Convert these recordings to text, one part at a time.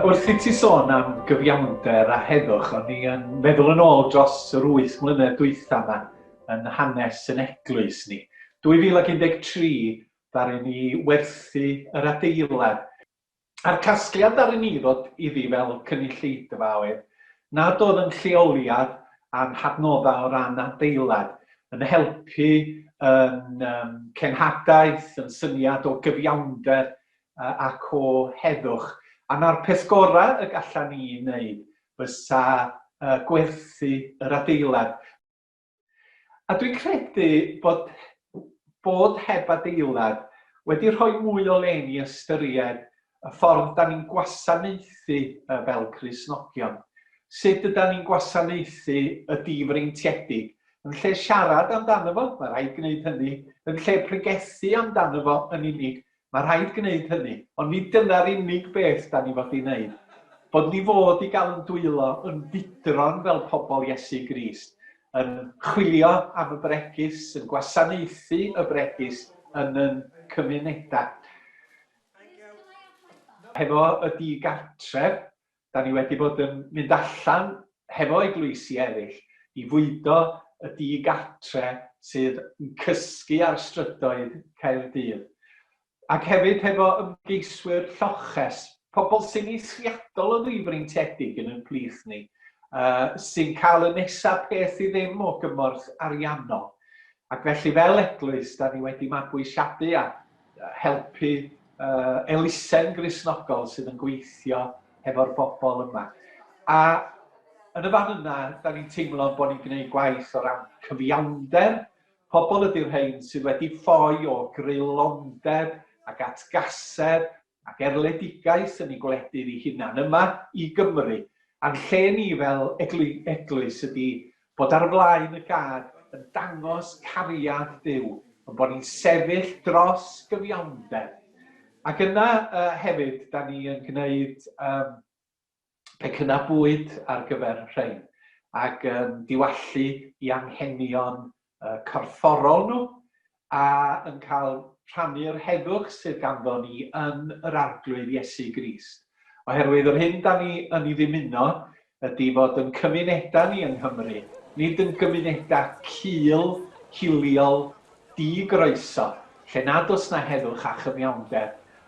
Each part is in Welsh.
Wrth i ti sôn am gyfiawnder a heddwch, o'n i yn meddwl yn ôl dros yr wyth mlynedd dwytha ma yn hanes yn eglwys ni. 2013 ddaru ni werthu yr adeilad, a'r casgliad ddaru ni ddod iddi fel cynulleidfa oedd nad oedd yn lleoliad a'n hadnoddau o ran adeilad yn helpu yn cenhadaeth, yn syniad o gyfiawnder ac o heddwch, a 'na'r peth gorau y gallan ni ei wneud fysa gwerthu yr adeilad. A dwi'n credu bod bod heb adeilad wedi rhoi mwy o le i ni ystyried y ffordd 'dan ni'n gwasanaethu fel Cristnogion, sut ydan ni'n gwasanaethu y difreintiedig. Yn lle siarad amdano fo, mae rhaid gwneud hynny, yn lle pregethu amdano fo yn unig, Mae rhaid gwneud hynny, ond nid dyna'r unig beth da ni fod i wneud. Bod ni fod i gael yn dwylo, yn fudron fel pobl Iesu Grist, yn chwilio am y bregus, yn gwasanaethu y bregus yn yn cymunedau. Hefo y digartref, 'Da ni wedi bod yn mynd allan hefo eglwysi eraill i fwydo y di-gatre sydd yn cysgu ar strydoedd Caerdydd. Ac hefyd hefo ymgeiswyr lloches, pobl sy'n eithriadol o ddifreintiedig yn ein plith ni, sy'n cael y nesa' peth i ddim o gymorth ariannol. Ac felly fel eglwys, 'da ni wedi mabwysiadu a helpu elusen Gristnogol sydd yn gweithio hefo'r bobl yma. A yn y fan yna, da ni'n teimlo bod ni'n gwneud gwaith o ran cyfiawnder, pobl ydy'r rhain sydd wedi ffoi o greulondeb ac atgasedd ac erledigaeth yn ei gwledydd ei hunan yma i Gymru, a'n lle ni fel Eglwys ydi bod ar flaen y gad yn dangos cariad Duw, yn bod ni'n sefyll dros gyfiawnder. Ac yna hefyd 'da ni yn gneud pecynna bwyd ar gyfer rhein, ac yn diwallu i anghenion corfforol nhw, a yn cael rhannu'r heddwch sydd ganddo ni yn yr Arglwydd Iesu Grist. Oherwydd yr hyn da ni yn ei ddymuno ydy fod yn cymunedau ni yng Nghymru, nid yn gymunedau cul, hiliol, di-groeso, lle nad oes na heddwch a chyfiawnder,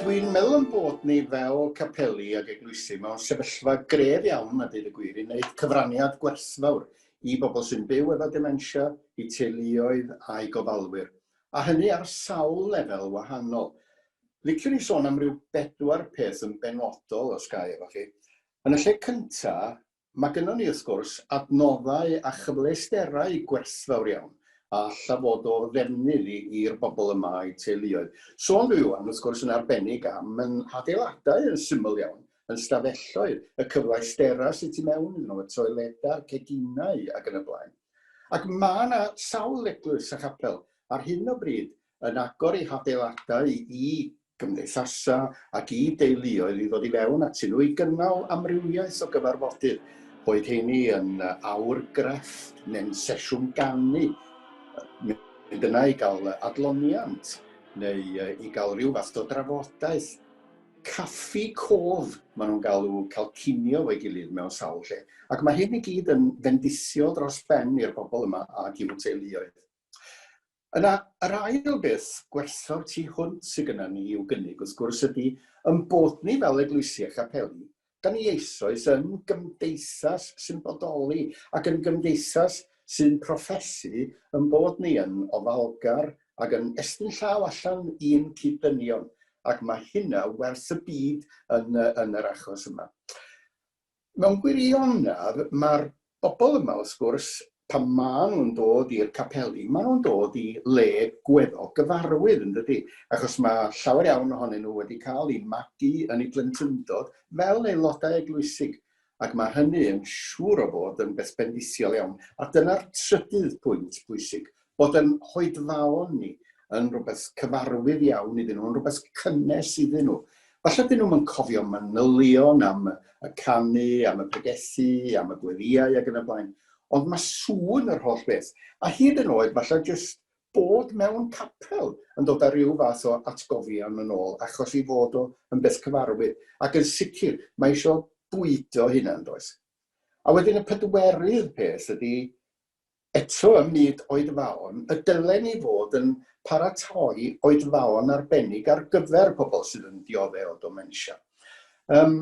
Dwi'n meddwl ein bod ni fel capeli ac eglwysi mewn sefyllfa gref iawn, a deud y gwir, i wneud cyfraniad gwerthfawr i bobl sy'n byw efo dementia, i teuluoedd a'i gofalwyr, a hynny ar sawl lefel wahanol. Liciwn i sôn am ryw bedwar peth yn benodol, os ga i efo chi. Yn y lle cynta', Mae gynnon ni, wrth gwrs, adnoddau a chyfleusterau gwerthfawr iawn a alla fod o ddefnydd i'r bobl yma a'u teuluoedd. Sôn dw i ŵan, wrth gwrs, yn arbennig am ein hadeiladau yn syml iawn, ein stafelloedd, y cyfleusterau sydd tu mewn iddyn nhw, y toiledau, ceginau ac yn y blaen. Ac mae 'na sawl eglwys a chapel ar hyn o bryd yn agor eu hadeiladau i gymdeithasau ac i deuluoedd i ddod i fewn atyn nhw i gynnal amrywiaeth o gyfarfodydd, boed heini yn awr grefft neu'n sesiwn ganu, mynd yna i gael adloniant neu i gael rhyw fath o drafodaeth. Caffi cof maen nhw'n galw cael cinio efo'i gilydd mewn sawl lle. Ac mae hyn i gyd yn fendithiol dros ben i'r bobl yma ac i'w teuluoedd. Yna, yr ail beth gwerthfawr tu hwnt sydd gynnon ni i'w gynnig, wrth gwrs, ydi ein bod ni fel eglwysi a chapeli, 'dan ni eisoes yn gymdeithas sy'n bodoli ac yn gymdeithas sy'n proffesu ein bod ni yn ofalgar ac yn estyn llaw allan i'n cyd-ddynion, ac mae hynna werth y byd yn yr achos yma. mewn gwirionedd, mae'r bobl yma, wrth gwrs, pan maen nhw'n dod i'r capeli, maen nhw'n dod i le gweddol gyfarwydd, yn dydy, achos mae llawer iawn ohonyn nhw wedi cael eu magu yn eu plentyndod fel aelodau eglwysig, ac mae hynny yn siŵr o fod yn beth bendithiol iawn. A dyna'r trydydd pwynt pwysig, bod yn hoedfaon ni yn rhywbeth cyfarwydd iawn iddyn nhw, yn rhywbeth cynnes iddyn nhw. Falle dyn nhw'n cofio manylion am y canu, am y pregethu, am y gweddiau ac yn y blaen, ond mae sŵn yr holl beth, a hyd yn oed falle jyst bod mewn capel yn dod â rhyw fath o atgofion yn ôl, achos i fod o yn beth cyfarwydd. Ac yn sicr, mae eisiau bwydo hynna yn does. A wedyn y pedwerydd peth ydy, Eto, ym myd oedfaon, y dylen ni fod yn paratoi oedfaon arbennig ar gyfer pobl sydd yn diodde' o ddomensia. Yym,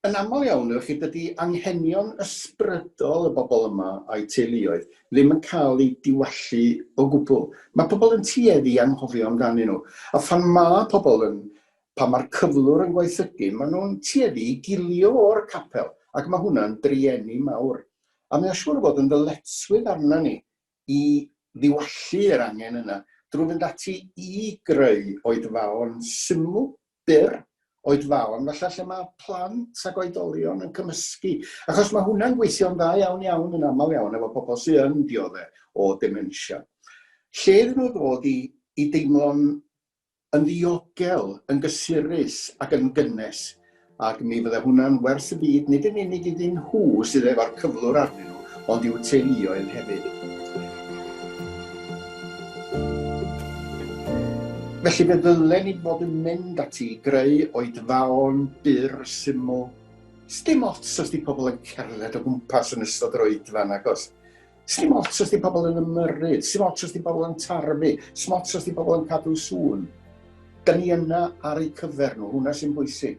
yn aml iawn, efo chi, dydi anghenion ysbrydol y bobl yma a'u teuluoedd ddim yn cael eu diwallu o gwbl. Mae pobl yn tueddu i anghofio amdanyn nhw. A phan ma' pobl yn... pan ma'r cyflwr yn gwaethygu, maen nhw'n tueddu i gilio o'r capel, ac mae hwnna'n drueni mawr A mae o'n siŵr o fod yn ddyletswydd arnon ni i ddiwallu yr angen yna drwy fynd ati i greu oedfaon syml, byr, oedfaon falle lle mae plant ac oedolion yn cymysgu, achos mae hwnna'n gweithio'n dda iawn iawn yn aml iawn efo pobl sydd yn diodde' o dementia. Lle iddyn nhw ddod i i deimlo'n yn ddiogel, yn gysurus ac yn gynnes, ac mi fydde hwnna'n wers y byd nid yn unig iddyn nhw sydd efo'r cyflwr arnyn nhw, ond i'w teuluoedd hefyd. Felly fe ddylen ni fod yn mynd ati i greu oedfaon byr, syml, sdim ots os 'di pobl yn cerdded o gwmpas yn ystod yr oedfa nagos, Sdim ots os di pobl yn ymyrryd, sdim ots os di pobl yn tarfu, sdim ots os di pobl yn cadw sŵn. Da ni yna ar eu cyfer nhw, hwnna sy'n bwysig.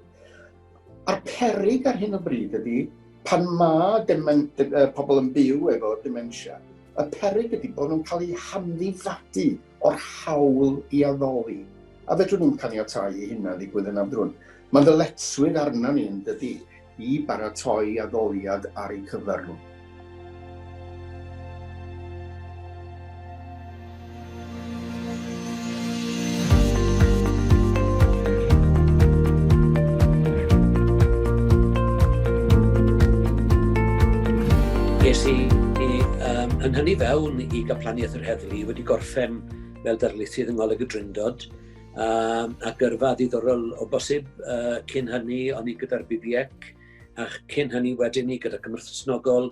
A'r perig ar hyn o bryd ydy, pan mae demen, de, uh, pobl yn byw efo dementia, y perig ydy bod nhw'n cael eu hamddifadu o'r hawl i addoli, a fedrwn ni'm caniatáu i hynna ddigwydd yn amdrwyn. Mae ddyletswydd arna ni yn dydy i baratoi addoliad ar eu cyfer nhw. yr heddlu wedi gorffen fel darlithydd yng Ngholeg y Drindod, um, a gyrfa ddiddorol o bosib uh, cyn hynny o'n i gyda'r BBEC, a cyn hynny wedyn ni gyda Cymru Snogol,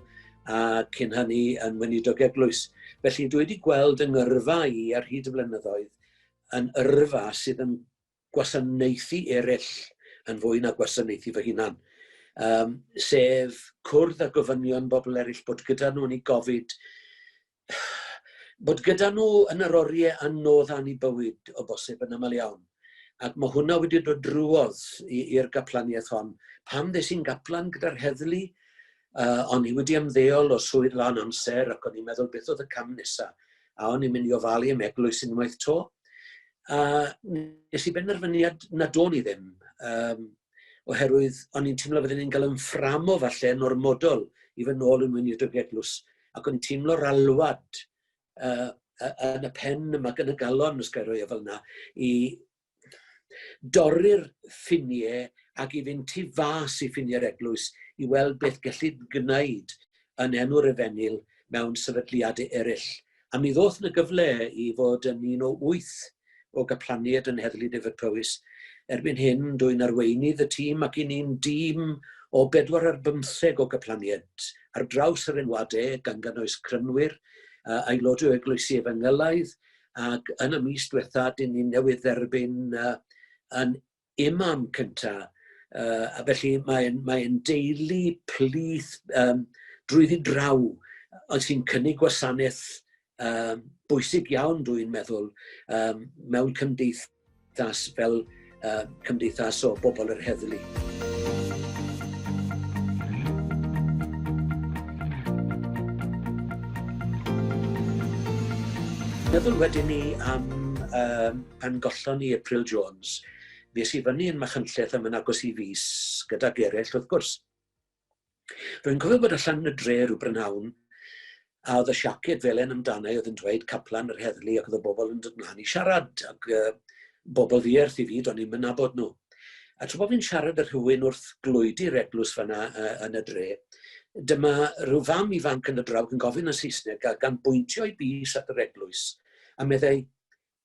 a cyn hynny yn Weinidog Eglwys. Felly dwi wedi gweld yng ngyrfa i ar hyd y flynyddoedd yn yrfa sydd yn gwasanaethu eraill yn fwy na gwasanaethu fy hunan, um, sef cwrdd â gofynion bobl eraill, bod gyda nhw yn ei gofid, bod gyda nhw yn yr oriau anodd a'n i bywyd o bosib yn aml iawn. Ac mae hwnna wedi dod drwodd i'r gaplaniaeth hon. Pam ddes i'n gaplan gyda'r heddlu? Uh, o'n i wedi ymddeol o swydd lan amser ac o'n i'n meddwl beth oedd y cam nesaf. A o'n i'n mynd i ofalu am eglwys unwaith to. A nes i benderfyniad na do'n i ddim. Um, oherwydd o'n i'n teimlo fydden ni'n cael yn fframo falle yn ormodol i fy nôl yn mwyn i'r dygeglws. Ac o'n i'n teimlo'r alwad uh, yn y pen yma, yn y galon, os gael roi e fel yna, i dorri'r ffinie ag i fynd tu fas i ffinie'r eglwys i weld beth gellid gwneud yn enw'r efengyl mewn sefydliad eraill. A mi ddoth na gyfle i fod yn un o wyth o gaplanied yn Heddlu Dyfed-Powys. Erbyn hyn, dwi'n arweinydd y tîm ac i ni'n dîm o bedwar ar bymtheg o gaplanied ar draws yr enwadau, gan gynnwys crynwyr, aelodau o eglwysi efengylaidd, ac yn y mis diwetha dyn ni newydd dderbyn uh, yn imam cynta uh, a felly mae'n mae deulu plith um, drwyddi draw ond sy'n cynnig gwasanaeth um, bwysig iawn dwi'n meddwl um, mewn cymdeithas Cymdeithas fel uh, cymdeithas o bobl yr heddlu. Meddwl wedyn ni am um, pan gollon ni April Jones, nes i fyny yn Machynlleth am yn agos i fus gyda gerell wrth gwrs. Rwy'n cofio bod allan yn y dre rhyw brynhawn, a oedd y siaced felen amdana i oedd yn dweud Caplan yr Heddlu ac oedd y bobl yn dod mlaen i siarad, ac uh, bobl ddierth i fi, do'n i'm yn nabod nhw. A tra bod fi'n siarad â rhywun wrth glwydi'r eglws fanna uh, yn y dre, dyma rhyw fam ifanc yn y drawg yn gofyn yn Saesneg a gan bwyntio i bus at yr eglwys, a meddai,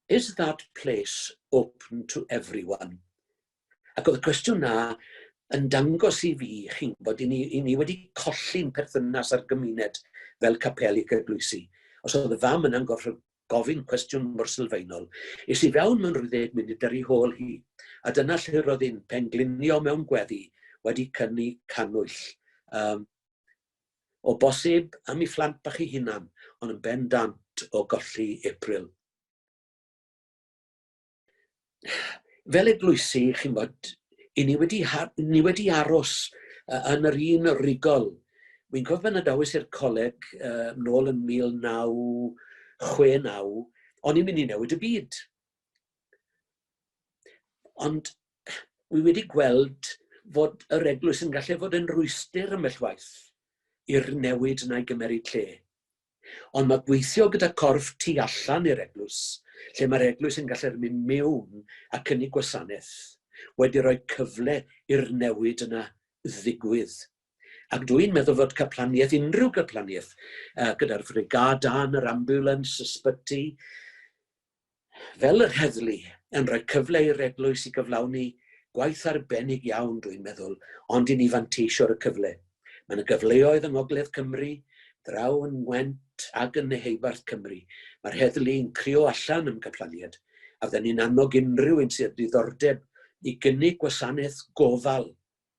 Is that place open to everyone? Ac oedd y cwestiwn 'na yn dangos i fi, chi'n gwybod, i ni, i ni wedi colli'n perthynas â'r gymuned fel capel i gydbwysi. Os oedd y fam yna'n gorfod gofyn cwestiwn mor sylfaenol, es i fewn mewn rhyddid munud ar ei hôl hi, a dyna lle roedd hi'n penglinio mewn gweddi, wedi cynnu cannwyll. Um, o bosib am i phlant bach ei hunan, ond yn bendant o golli April. fel eglwysi, chi'n bod, i ni wedi, ni wedi aros uh, yn yr un rigol. Wy'n cofio pan adawys i'r coleg uh, nôl yn 1969, o'n i'n mynd i newid y byd. Ond wy wedi gweld fod yr eglwys yn gallu fod yn rwystr ymell waith i'r newid na'i gymeryd lle. Ond mae gweithio gyda corff tu allan i'r eglwys, lle mae'r eglwys yn gallu'r mynd mewn a cynnig gwasanaeth, wedi rhoi cyfle i'r newid yna ddigwydd. Ac dw i'n meddwl fod caplaniaeth, unrhyw gaplaniaeth, gyda'r frigâd dân, yr ambiwlans, ysbyty, Fel yr heddlu, yn rhoi cyfle i'r eglwys i gyflawni gwaith arbennig iawn, rwy'n meddwl, ond i ni fanteisio ar y cyfle. Mae 'na gyfleoedd yng ngogledd Cymru, draw yn Ngwent ac yn Nheheubarth Cymru. Mae'r heddlu yn crïo allan am gamllaniad, a fydden ni'n annog unrhyw un sydd â diddordeb i gynnig gwasanaeth gofal.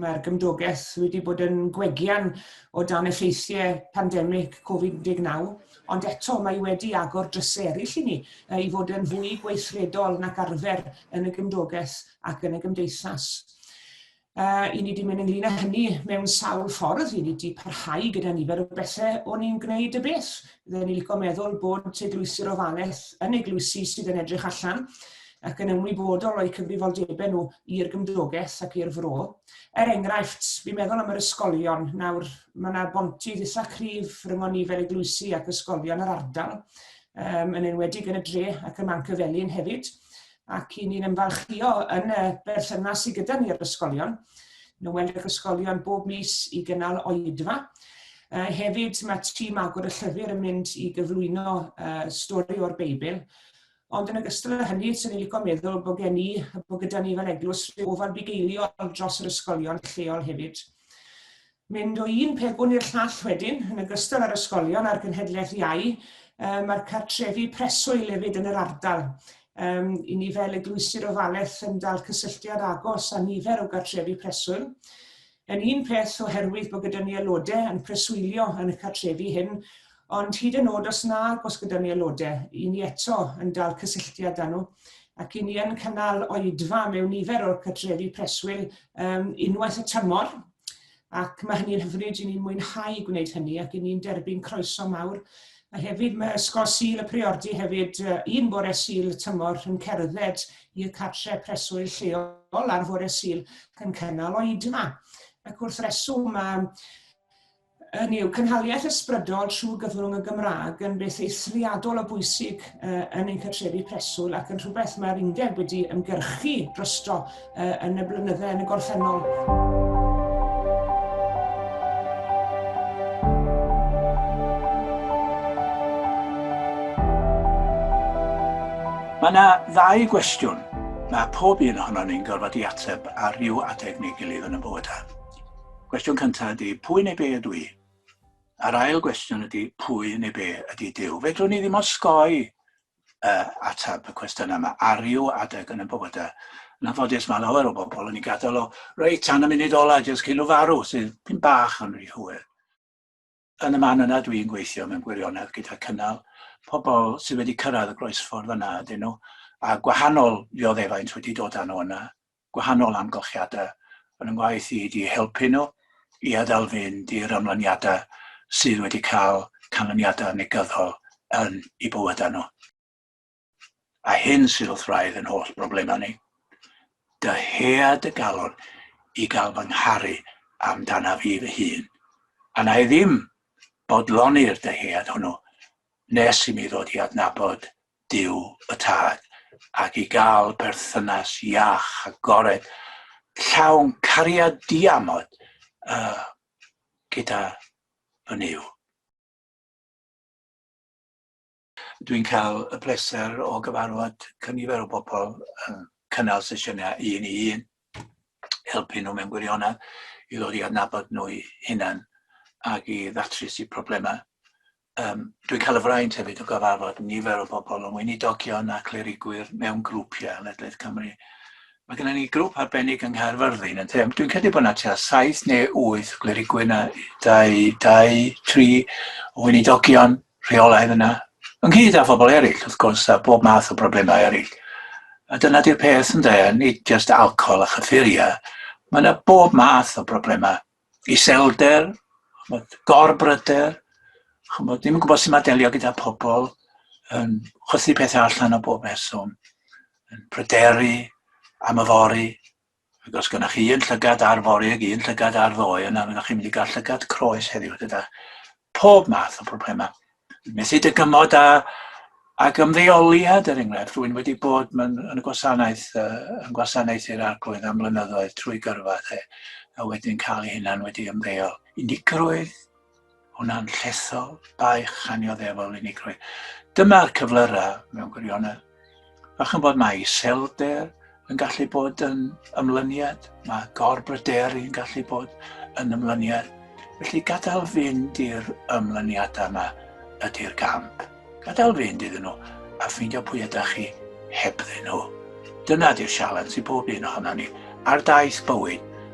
mae'r gymdogaeth wedi bod yn gwegian o dan effeithiau pandemig Covid-19, ond eto mae wedi agor drysau eraill i ni i fod yn fwy gweithredol nac arfer yn y gymdogaeth ac yn y gymdeithas. Uh, I ni wedi mynd ynglyn â hynny mewn sawl ffordd, i ni wedi parhau gyda nifer o bethau o'n i'n gwneud y beth. Fydden ni licio meddwl bod teglwysi'r ofalaeth yn eglwysi sydd yn edrych allan, ac yn ymwybodol o'u cyfrifoldebau nhw i'r gymdogaeth ac i'r fro. Er enghraifft, fi'n meddwl am yr ysgolion. Nawr, mae yna bontydd eitha cryf rhyngon ni fel eglwysi ac ysgolion yr ardal, um, yn enwedig yn y dre ac ym Manc y Felin hefyd, ac i ni'n ymfalchio yn y berthynas sydd gyda ni ar ysgolion. Nhw'n weld yr ysgolion bob mis i gynnal oedfa, Uh, hefyd mae tîm agor y llyfr yn mynd i gyflwyno uh, stori o'r Beibl Ond yn ogystal â hynny, swn i'n licio meddwl bod gen i, bod gyda ni fel eglwys rhyw ofal bugeiliol dros yr ysgolion lleol hefyd. Mynd o un pegwn i'r llall wedyn, yn ogystal â'r ysgolion a'r genhedlaeth iau, um, mae'r cartrefi preswyl hefyd yn yr ardal. Um, I ni fel eglwysir ofalaeth yn dal cysylltiad agos â nifer o gartrefi preswyl. Yn un peth, oherwydd bod gyda ni aelodau yn preswylio yn y cartrefi hyn, ond hyd yn oed os nag oes gyda ni aelodau, i ni eto yn dal cysylltiad â nhw, ac i ni yn cynnal oedfa mewn nifer o'r cartrefi preswyl um, unwaith y tymor, ac mae hynny'n hyfryd, i ni'n mwynhau gwneud hynny ac i ni'n derbyn croeso mawr A hefyd mae Ysgol Sul y Priordy hefyd un bore Sul y tymor yn cerdded i'r cartre preswyl lleol ar fore Sul yn cynnal oed yma. Ac wrth reswm mae yn yw cynhaliaeth ysbrydol trwy gyfrwng y Gymraeg yn beth eithriadol o bwysig yn ein cartrefi preswyl ac yn rhywbeth mae'r undeb wedi ymgyrchu drosto uh, yn y blynydde yn y gorffennol. Mae yna ddau gwestiwn mae pob un ohono ni'n gorfod i ateb ar ryw adeg neu gilydd yn y bywydau. Cwestiwn cyntaf ydy, pwy neu be ydw i? A'r ail gwestiwn ydy, pwy neu be ydy Dyw? Fedrwn ni ddim osgoi uh, atab y cwestiynau yma. Ar ryw adeg yn y bywydau, yn anffodus mae lawer o bobl yn ei gadael o, reit, tan y munud ola, jyst cyn o farw, sydd pyn bach yn rhy hwyr. Yn y man yna dwi'n gweithio mewn gwirionedd gyda cynnal pobl sydd wedi cyrraedd y groesffordd yna ydyn nhw, a gwahanol ddioddefaint wedi dod â nhw yna. gwahanol amgylchiadau yn fy ngwaith i ydy helpu nhw i addal fynd i'r ymlyniadau sydd wedi cael canlyniadau negyddol yn eu bywydau nhw. A hyn sydd wrth wraidd yn holl broblemau ni. Dyhea dy galon i gael fy ngharu amdanaf i fy hun, a na i ddim bodloni'r dyhead hwnnw nes i mi ddod i adnabod Duw y Tad, ac i gael perthynas iach, agored, llawn cariad diamod uh, gyda fy Nuw. Dwi'n cael y pleser o gyfarfod cynifer o bobl yn cynnal sesiynau un i un, helpu nhw mewn gwirionedd i ddod i adnabod nhw'i hunan ac i ddatrys eu problemau. Yym, dwi'n cael y fraint hefyd o gyfarfod nifer o bobl yn weinidogion a clerigwyr mewn grwpiau ledled Cymru. Mae gennym ni grŵp arbennig yng Nghaerfyrddin yn lle. Dwi'n credu bod yna tua saith neu wyth clerigwyr na dau, dau, tri o weinidogion rheolaidd yna, ynghyd â phobl eraill, wrth gwrs, a bob math o broblemau eraill. A dyna di'r peth yn dweud, nid jyst alcohol a chyffuriau. Mae yna bob math o broblemau iselder, chymod, gorbryder, chymod, ddim yn gwybod sy'n mae delio gyda pobl, yn chwythu pethau allan o bob person, yn pryderu am y fori, ac os gynnwch chi un llygad ar fori ac un llygad ar ddoe, yna fyddwch chi'n mynd i gael llygad croes heddiw gyda pob math o broblemau. methu dygymod a ac ymddeoliad er enghraifft, rwy'n wedi bod yn, yn y gwasanaeth, uh, yn gwasanaeth i'r arglwydd am flynyddoedd trwy gyrfa, e, a wedyn cael ei hunan wedi ymddeol. Unigrwydd, hwnna'n llethol, baich anioddefol unigrwydd. Dyma'r cyflyrau mewn gwirionedd. A chymod mae iselder yn gallu bod yn ymlyniad, mae gorbryderu yn gallu bod yn ymlyniad. Felly gadael fynd i'r ymlyniadau yma ydy'r gamp. Gadael fynd iddyn nhw a ffeindio pwy ydych chi hebddyn nhw. Dyna di'r sialens i bob un ohono ni ar daith bywyd